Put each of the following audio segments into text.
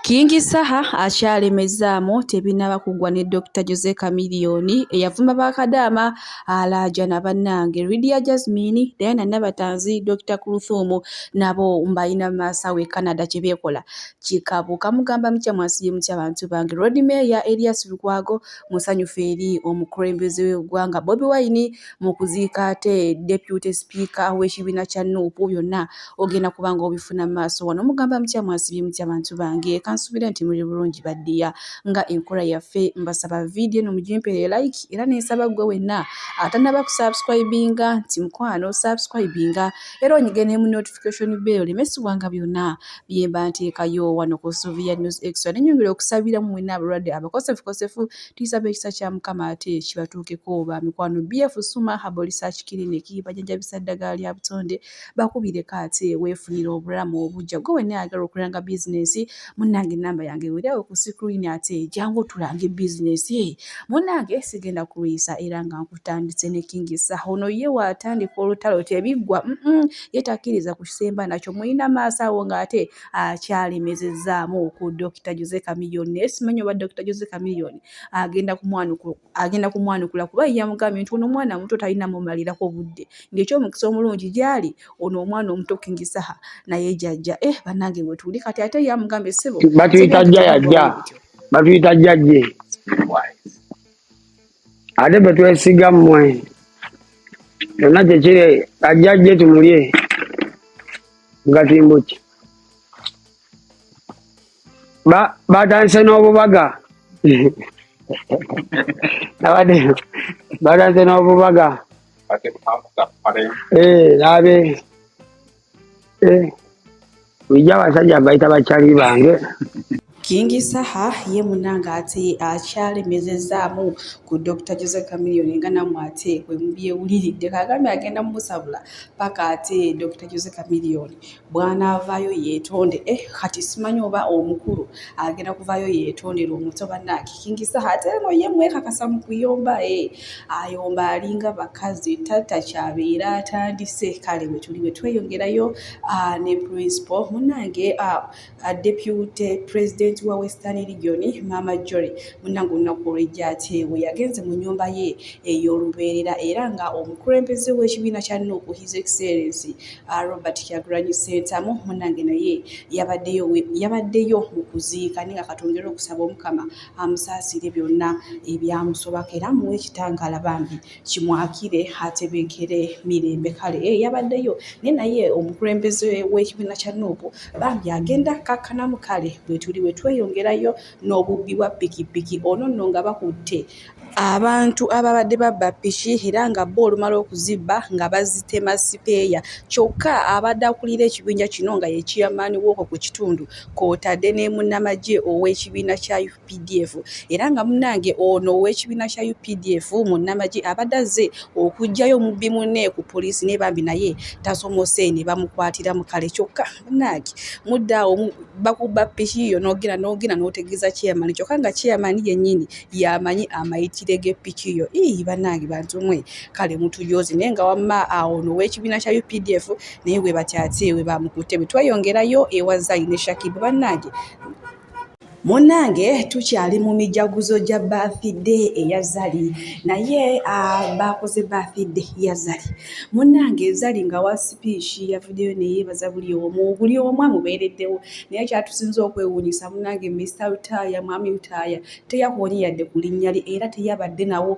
Kingi Saha akyalemezaamu tebinaba kugwa ne Dokita Jose Chameleone eyavuma ba Kadaama alaajana bannange Lydia Jazmine, Diana Nabatanzi, Dokita Kluthum nabo mbalina mu maaso awo e Canada kye beekola kikabu kamugamba mutya mwasibye mutya bantu bange Lord Mayor Erias Lukwago musanyufu eri omukulembeze w'eggwanga Bobi Wine mu kuziika ate deputy speaker w'ekibiina kya nup byonna ogenda kubanga obifuna mu maaso wano mugamba mutya mwasibye mutya bantu bange kansuubire nti muli bulungi baddiya nga enkola yaffe mbasaba vidiyo eno mugimpere like era nensaba ggwe wenna atanaba ku subscribinga nti mukwano subscribinga era onyige ne mu notification bell lemesibwanga byonna byemba nteekayo wano ku suviya news extra nenyongera okusabira mu wenna abalwadde abakosefukosefu Tulisaba ekisa kya Mukama ate kibatuukeko ba mikwano BF Suma Herbal Research Clinic bajanjabisa ddagala lya butonde bakubireko ate weefunire obulamu obujja gwe wenna ayagala okulanga bizinensi munnange ennamba yange weeryawo ku sikrini ate jangu tulange bizinensi munnange sigenda kulwisa era nga nkutandise ne kingisa ono ye waatandika olutalo tebiggwa ye takkiriza ku kisemba nakyo mulina maaso awo ng'ate akyalemezezaamu ah, ku Dokita Jose Chameleone naye simanyi oba Dokita Jose Chameleone agenda kumwanukula kuba yamugambye nti ono omwana omuto talina mumalirako budde ng'ekyomukisa omulungi gyali ono omwana omuto King Saha naye jajja eh banange wetuli kati ate yamugambye sebo batuyita jjayajja batuyita jjajje ate bwe twesiga mmwe yonna kyekiri ajja ajje tumulye ngatimbo ki batandise n'obubaga abadde batandise n'obubaga eh, naabe Eh, ija abasajja bayita bakyali bange Kingi Saha ye munanga ate akyalemezezaamu ku Dr. Jose Chameleone nga namwe ate bwe mubyewuliridde kagambye agenda mumusabula paka ate Dr. Jose Chameleone bw'anaavaayo yeetonde eh kati simanyi oba omukulu agenda kuvaayo yeetondera omuto bannange Kingi Saha ate eno ye mwekakasa mu kuyomba eh ayomba alinga bakazi tatta kyabeera atandise kale wetuli wetweyongerayo ah, ne principal munange ah, ah, deputy president wa western region mama jory munange olunaku olwejja ate we yagenze mu nyumba ye ey'olubeerera era nga omukulembeze w'ekibiina kya nup his excellence robert kyagranyi sentamu munange naye yabaddeyo mu kuziika naye nga katwongere okusaba omukama amusaasire byonna ebyamusobako era muwe ekitangaala bambi kimwakire atebenkere mirembe kale e yabaddeyo naye naye omukulembeze w'ekibiina kya nuupu bambi agenda kakkanamu kale bwetuli bwe tweyongerayo n'obubbi bwa pikipiki ono nno nga bakutte Abantu ababadde babba ppiki era nga bo olumala okuzibba nga bazitema sipeeya kyokka abadde akulira ekibinja kino nga ye ciyamaani w'okwo ku kitundu kw'otadde ne munnamagye ow'ekibiina kya updf era nga munnange ono ow'ekibiina kya updf munnamagye abadde azze okuggyayo omubbi munne ku poliisi naye bambi naye tasomose ne bamukwatira mu kale kyokka munnaaki mudde awo bakubba piki yo nogenda nogenda n'otegeeza kyeyamani kyokka nga kyeyamani yennyini yamanyi amayitire g'epiki yo ii bannange bantu mwe kale mutuyoozi naye nga wamma awo nowekibiina kya updf naye webatyatye webamukutte bwe tweyongerayo ewa zayi ne shakibu bannange munange tukyali mu mijaguzo gya bathide eya zali naye bakoze bathide ya zali munange zali nga wa sipiiki yavuddeyo neyeebaza buli omu buli omu amubeereddewo naye kyatusinza okwewuunyisa munange mista lutaaya mwami lutaaya teyakoonye yadde ku linnya lye era teyabadde nawo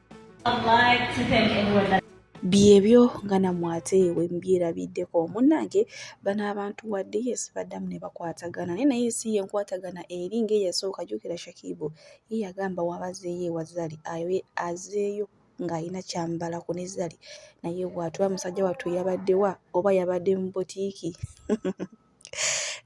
byebyo nga namwe ate wembyerabiddeko munnange bano abantu wadde yes baddamu ne bakwatagana naye naye si yenkwatagana eri ngaeyasooka jukira shakibu ye yagamba wabazeeyo ewazali azeeyo ng'alina kyambala ku ne zali naye bwatuba musajja wattu yabaddewa oba yabadde mu butiiki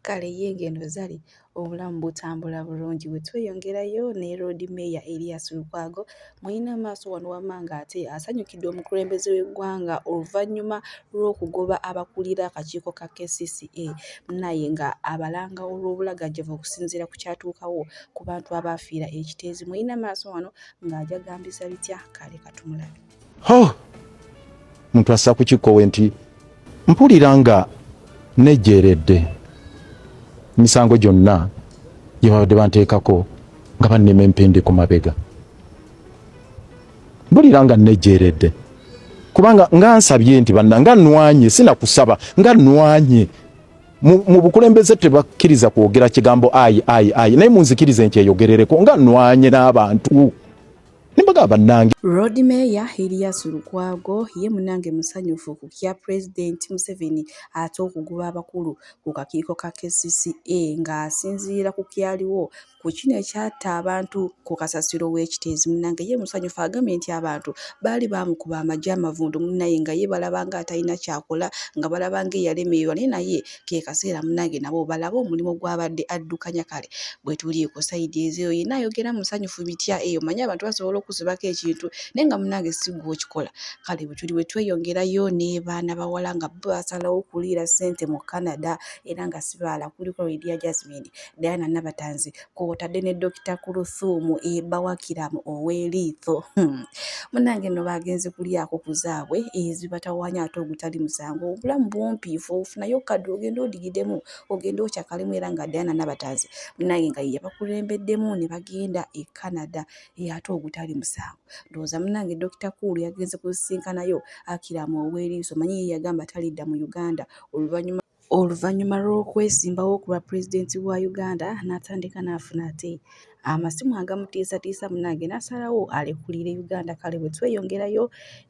kale ye ng'eno zali obulamu butambula bulungi bwe tweyongerayo ne loodi meeya erias lukwago mulina amaaso wano wamma ng'ate asanyukidde omukulembeze w'eggwanga oluvannyuma lw'okugoba abakulira akakiiko ka kcca naye nga abalanga olw'obulagajjavu okusinziira ku kyatuukawo ku bantu abaafiira ekiteezi mulina maaso wano ng'ajagambisa bitya kale katumulabe Oh, muntu assa ku kikkowe nti mpulira nga nejjeeredde emisango gyonna gye babadde banteekako nga bannema empindi ku mabega mpulira nga nejjeeredde kubanga nga nsabye nti banna nga nwanye sinakusaba nga nwanye mu bukulembeze tebakkiriza kwogera kigambo ayi ayi ayi naye munzikirize nkyeyogerereko nga nwanye n'abantu nembaga bannange Road Mayor Erias Lukwago ye munange musanyufu ku kya Pulezidenti Museveni ate okugoba abakulu ku kakiiko ka KCCA ng'asinziira ku kyaliwo ku kino ekyatta abantu ku kasasiro w'ekiteezi munange ye musanyufu agambye nti abantu baali baamukuba amagye amavundu munnaye nga ye balaba nga atalina kyakola nga balaba nga eyalemeerwa naye naye ke kaseera munange nabo balabe omulimu gwabadde addukanya kale bwetuli ku sayidi ezeyo yena ayogera musanyufu bitya eyo manya abantu basobola okuzibako ekintu naye nga munange sigwa okikola kale bwetuli bwetweyongerayo nebaana bawala nga bo basalawo okuliira sente mu canada era nga sibaala kuliko lydia jasmine diana nabatanzi kwotadde ne Dokita Kuluthumu ebba wa Kiramu ow'eliitho hmm. munange no bagenze kulyako ku zaabwe ezibatawanya ate ogutali musango obulamu bumpi ife ofunayo okukadde ogenda odigidemu ogenda okyakalemu era nga Diana Nabatanzi munange nga yeyabakulembeddemu ne bagenda e Canada e ate ogutali musango ndowooza munange Dokita Kuulu yagenze kusisinkanayo Akiramu ow'eliiso manyi ye yagamba talidda mu Uganda oluvannyuma Oluvannyuma lw'okwesimbawo ku bwa pulezidenti wa Uganda n'atandika n'afuna ate amasimu agamutiisatiisa munange n'asalawo alekulire Uganda kale bwe tweyongerayo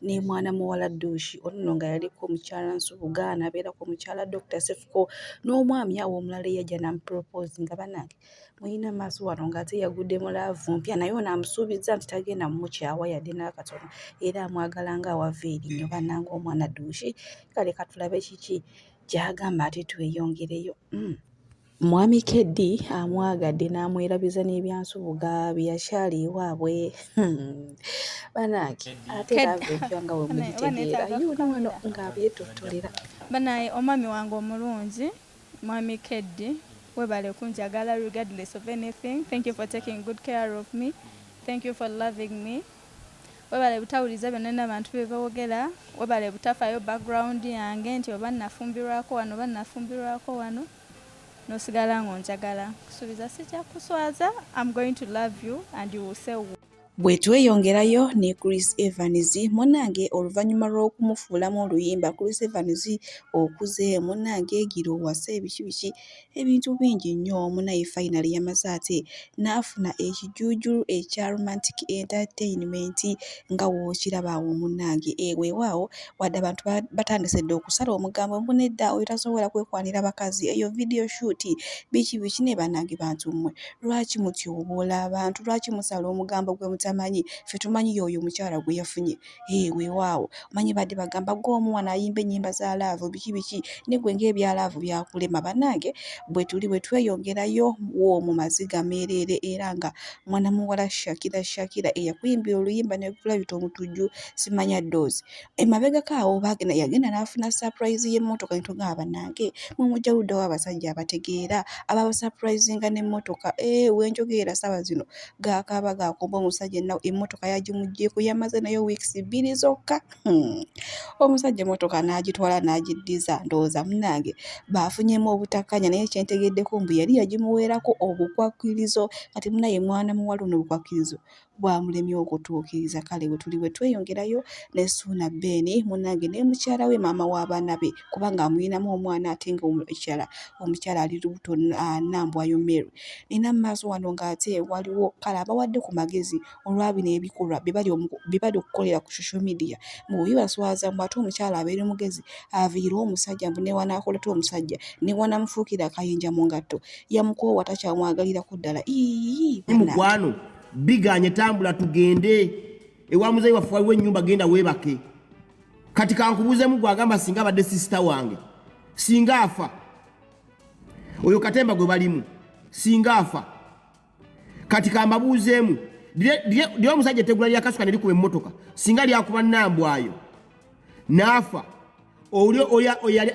ne mwana muwala Duushi ono nno nga yaliko mukyala Nsubuga n'abeerako mukyala Dokita Sefuko n'omwami awo omulala eyajja n'amupropose nga banange mulina maaso wano ng'ate yagudde mu laavu mpya naye ono amusuubizza nti tagenda mumukyawa yadde n'akatono era amwagala nga awava eri nyo bannanga omwana duushi kale katulabe kiki gy'agamba ate tweyongereyo mm. mwami keddi amwagadde n'amwerabiza n'ebyansubuga bye yakyali ewaabwe hmm. banaaki ate laavu empya nga wemugitegeera yuuno wano ng'abyetottolera banaye omwami wange omulungi Mwami Keddi webale kunjagala regardless of anything thank you for taking good care of me thank you for loving me webale butawuliza byonna nabantu bebawogera webale butafayo background yange nti oba nafumbirwako wano oba nafumbirwako wano nosigala nga onjagala kusuubiza sijja kuswaza am going to love you and you will say Bwe tweyongerayo ne Chris Evans munnange oluvannyuma lw'okumufuulamu oluyimba Chris Evans okuze munnange gira owase biki biki ebintu bingi nnyo munaye fayinali yamaze ate n'afuna ekijuujulu ekya romantic entertainment nga wookiraba awo munnange eweewaawo wadde abantu batandise dda okusala omugambo mbu nedda oyo tasobola kwekwanira bakazi eyo vidiyo shuuti biki biki naye bannange bantu mmwe Lwaki mutyoboola abantu? Lwaki musala omugambo gwe mutamanyi? Ffe tumanyi y'oyo omukyala gwe yafunye. Hee weewaawo, omanyi badde bagamba gwe omu wano ayimba ennyimba za laavu biki biki, ne gwe ng'ebya laavu byakulema. Bannange bwe tuli bwe tweyongerayo w'omu maziga meereere era nga mwana muwala Shakira Shakira eyakuyimbira oluyimba ne lukulabita omutujju Simanya Doozi. Emabegako awo baagenda yagenda n'afuna surprise y'emmotoka ne tugamba bannange mwe mujja ludda wa abasajja abategeera ababasurprisinga n'emmotoka ee eh, we njogeera ssaawa zino gaakaaba gaakumba omusajja ennaku emmotoka yagimuggyeeko yamaze nayo weeks bbiri zokka hmm. omusajja emmotoka n'agitwala n'agiddiza ndowooza munnange baafunyemu obutakkanya naye kye ntegeddeko mbu yali yagimuweerako obukwakkirizo kati munaye mwana muwala ono obukwakkirizo bwamulemye okutuukiriza kale wetuli wetweyongerayo ne Suuna Ben munange ne mukyala we maama w'abaana be kubanga amulinamu omwana ate nga omukyala omukyala ali lubuto Nambwayo Mary nina maaso wano nga ate waliwo kale abawadde ku magezi olwa bino ebikolwa bye bali okukolera ku social media mbu bibaswaza mbu ate omukyala abeere mugezi aviire omusajja mbu newanaakoleta omusajja newanamufuukira akayinja mu ngatto yamukoowa takyamwagalirako ddala ii mukwano biganye tambula tugende ewa muzeyi waffe waliwo ennyumba genda weebake kati kankubuuzemu gwagamba singa abadde sisita wange singa afa oyo katemba gwe balimu singa afa kati kambabuuzeemu lyo omusajja etegula lyakasuka ne likuba emmotoka singa lyakuba nambwayo naafa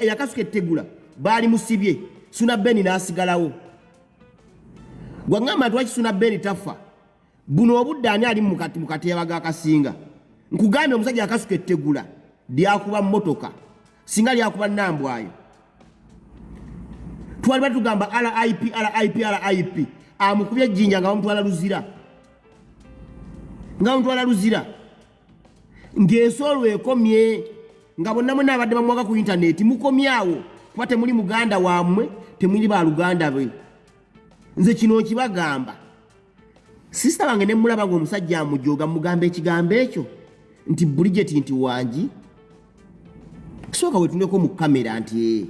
eyakasuka ettegula baali musibye suna beni n'asigalawo gwangamba nti wakisuna beni taffa buno obudde ani ali mukati mukateeba gakasinga nkugambye omusajja akasuka ettegula lyakuba motoka singa lyakuba nambwayo twali batugamba rip rip rip amukubye ejjinja nga bamutwala luzira nga bamutwala luzira ng'ensi olwo ekomye nga bonna mwena abadde bamwaga ku intaneti mukomyawo kuba temuli muganda wammwe temuli baluganda be nze kino nkibagamba sisita wange ne mulaba ng'omusajja amujoga mugamba ekigambo ekyo nti bulijeti nti wangi sooka wetuneko mu kamera nti eh,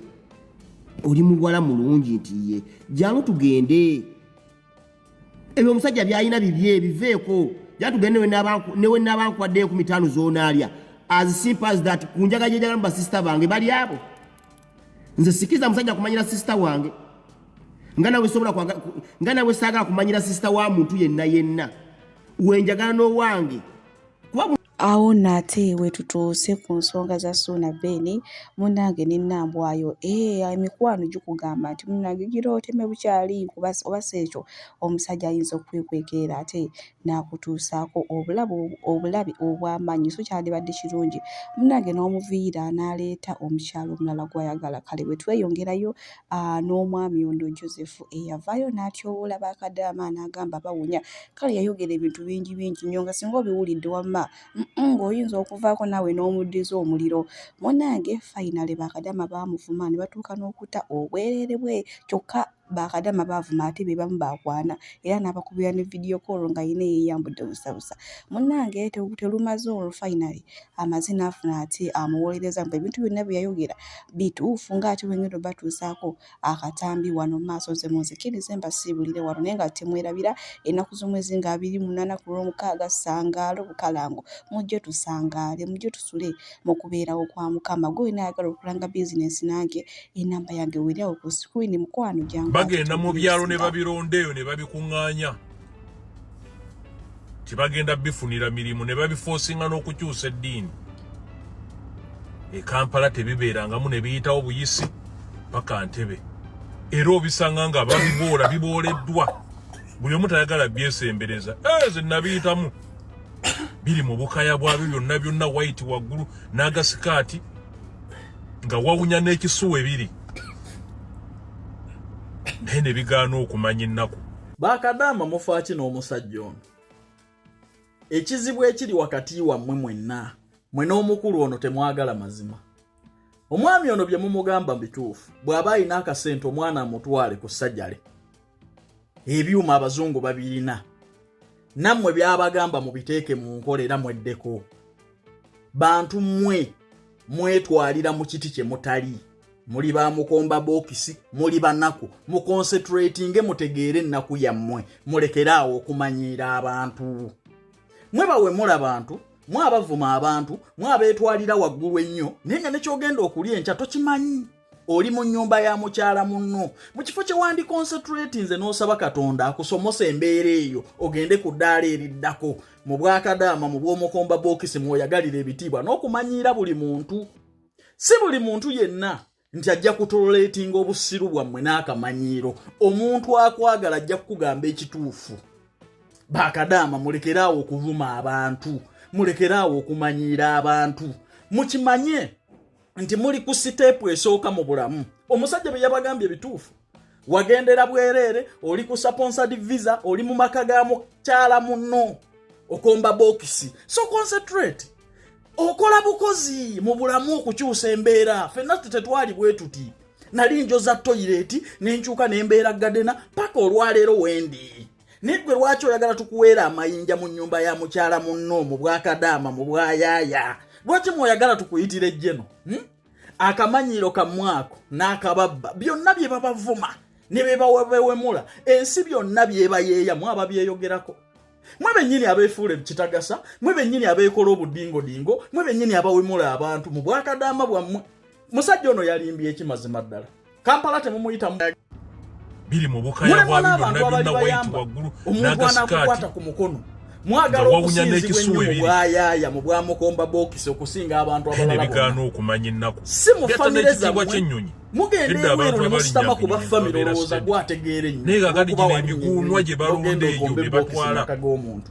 oli muwala mulungi nti ye jangu tugende ebyo omusajja byalina bibye biveeko jatugende newe nabankuwadde enkumi taano zonaalya as simple as that ku njaga gyejagala mu basisita bange bali abo nze sikiza musajja kumanyira sisita wange nga nawe sobola nga nawe saagala kumanyira sisita wa muntu yenna yenna wenjagala n'owange Awo nno ate we tutuuse ku nsonga za Suuna Ben munnange ne Nambwayo eh, emikwano gikugamba nti munnange gira oteme bukyali kuba oba si ekyo omusajja ayinza okukwekwekera ate n'akutuusaako obulabe obulabe obw'amaanyi so kyandibadde kirungi munnange n'omuviira n'aleeta omukyala omulala gw'ayagala kale bwe tweyongerayo ah, n'omwami ono Joseph eyavaayo n'atyowoola bakadaama n'agamba bawunya Kale yayogera ebintu bingi bingi nnyo nga singa obiwulidde wamma ng'oyinza okuvaako naawe n'omuddiza omuliro. Munnange fayinale bakadama baamuvuma ne batuuka n'okutta obwereere bwe kyokka bakadama baavuma ate be bamu baakwana era n'abakubira ne vidiyo koolo nga yina yeeyambudde busabusa. Munnange terumaze olwo fayinale amaze n'afuna ate amuwolereza mbu ebintu byonna bye yayogera bituufu ng'ate wengenda obatuusaako akatambi wano mu maaso nze munzikirize mbasiibulire wano naye nga temwerabira ennaku z'omwezi nga abiri munaana ku lw'omukaaga ssangaalo bukalango mujje tusangaale mujje tusule mu kubeerawo kwa mukama gwe wena ayagala okulanga bizinensi nange enamba yange weeri awo ku sikwini mukwano gyangu bagenda mu byalo ne babironda eyo ne babikuŋŋaanya nti bagenda bifunira mirimu ne babifoosinga n'okukyusa eddiini ekampala tebibeerangamu ne biyitawo buyisi paka ntebe era obisanga nga babiboola bibooleddwa buli omu tayagala byesembereza eze eh, nabiyitamu biri mu bukaya bwabyo byonna byonna waiti waggulu n'agasikaati nga wawunya n'ekisuwa ebiri naye ne bigaana okumanya ennaku bakadaama mufaaki n'omusajja ono ekizibu ekiri wakati wammwe mwenna mwe n'omukulu ono temwagala mazima omwami ono bye mumugamba bituufu bw'aba alina akasente omwana amutwale ku sajale ebyuma abazungu babirina nammwe byabagamba mubiteeke mu nkola era mweddeko bantu mmwe mwetwalira mu kiti kye mutali muli ba mukomba bokisi muli banaku muconcentratinge mutegeere ennaku yammwe mulekere awo okumanyiira abantu mwe bawemula bantu mwe abavuma abantu mwe abeetwalira waggulu ennyo naye nga nekyogenda okulya enkya tokimanyi oli mu nnyumba ya mukyala munno mu kifo kye wandiconcentratinze n'osaba katonda akusomose embeera eyo ogende ku ddaala eriddako mu bwakadaama mu bw'omukomba bokisi mwoyagalira ebitiibwa n'okumanyiira buli muntu si buli muntu yenna nti ajja kutoletinga obusiru bwammwe n'akamanyiiro omuntu akwagala ajja kukugamba ekituufu bakadaama mulekere awo okuvuma abantu mulekere awo okumanyiira abantu mukimanye nti muli ku siteepu esooka mu bulamu omusajja bye yabagambye ebituufu wagendera bwereere oli ku sponsored visa oli mu maka ga mukyala muno okomba bokisi so concentrate okola bukozi mu bulamu okukyusa embeera fenna tetwali bwetuti nali njoza toyireti nenkyuka nembeera gadena paka olwaleero wendi naye gwe lwaki oyagala tukuweera amayinja mu nyumba ya mukyala munno mu bwakadaama mu bwayaaya lwaki mwoyagala tukuyitira ejjeno hmm? akamanyiiro kamwako n'akababba byonna bye babavuma ne bebawebewemula ensi byonna byebayeeya mwaba byeyogerako mwe bennyini abeefuula ebikitagasa mwe bennyini abeekola obudingodingo mwe bennyini abawemula abantu mu bwakadaama bwammwe musajja ono yalimbye ekimazima ddala kampala temumuyita biri mu bukaya bwa byonna byonna wayiti waggulu n'agasikaati ku mukono mwagala okusinzibwa ennyo mu bwayaya mu bwamukomba bokisi okusinga abantu abalalabigaana okumanya ennaku si mu famire zammwe mugenda ebweru ne musitama ku bafamire olowooza gwategeera ennyo naye kakati gino emiguunwa gye balonda eyo bye batwala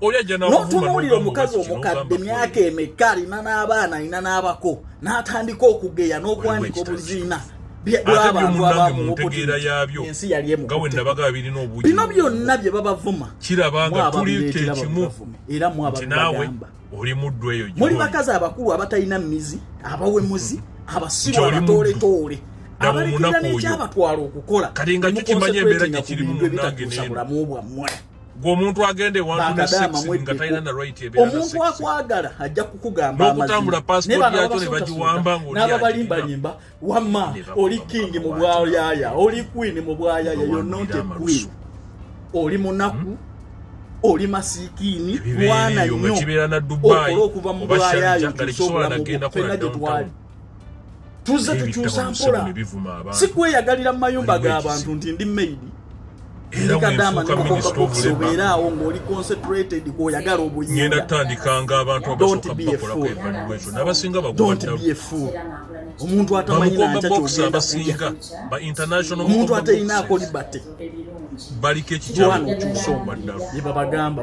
n'otunuulira omukazi omukadde myaka emeka alina n'abaana alina n'abako n'atandika okugeya n'okuwanika obuziina bwabantu abamuensi yali emubino byonna bye babavuma era mwabagamba muli bakazi abakulu abatalina mizi abawemuzi abasiru abatooletoole abalekera n'ekyabatwala okukola kati nga kyo kimanya embeera gye kirimu munange n'eno gwomuntu agenda ewantuomuntu akwagala ajja kukugamba nokutambula pasipoti yakyo nebagiwamba nababalimbalimba wama oli kingi mu bwayaya oli kwini mu bwayaya yononte kwini oli munaku hmm? oli masikiini mwana nnyo okola okuva mu bwayayo tusobolamu fena gyetwali tuzze tukyusa mpola si kweyagalira mu mayumba g'abantu nti ndi maidi ndikadama nikukokakukusobeera awo ng'oli concentrated kwoyagala obuyinga don't be a fool don't be a fool omuntu atamanyi nankya kyogenda kuja omuntu atalina akoli bate baliko ekikyalo kyusa omwana yebabagamba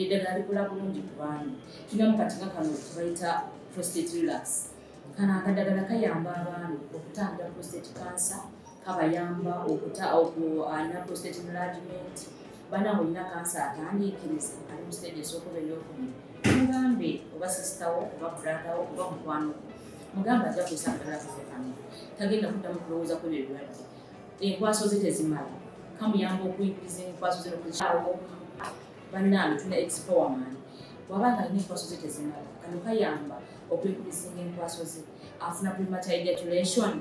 eddagala likola bulungi ku baami tulinamu kati nga kano kebayita prostate relax kano akadagala kayamba abaami okutangira prostate cancer kabayamba okuta alina prostate enlargement banange olina kansa atandiikiriza ali mu stage esookuba eyokubiri mugambe oba sisitawo oba bradawo oba mukwano mugambe ajja kuisa akadala kafe kano tagenda kuddamu kulowooza kwebyo ebirwadde enkwaso ze tezimala kamuyamba okuyigiriza enkwaso ze nokukyawo bannange tuna expowerman waba nga alina enkwaso ze tezimala kano kayamba okwekurisinga enkwaso ze afuna premature ejaculation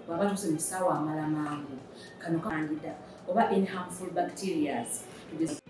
waba tuse mu kisaawa amala mangu kano kandida oba in harmful bacterias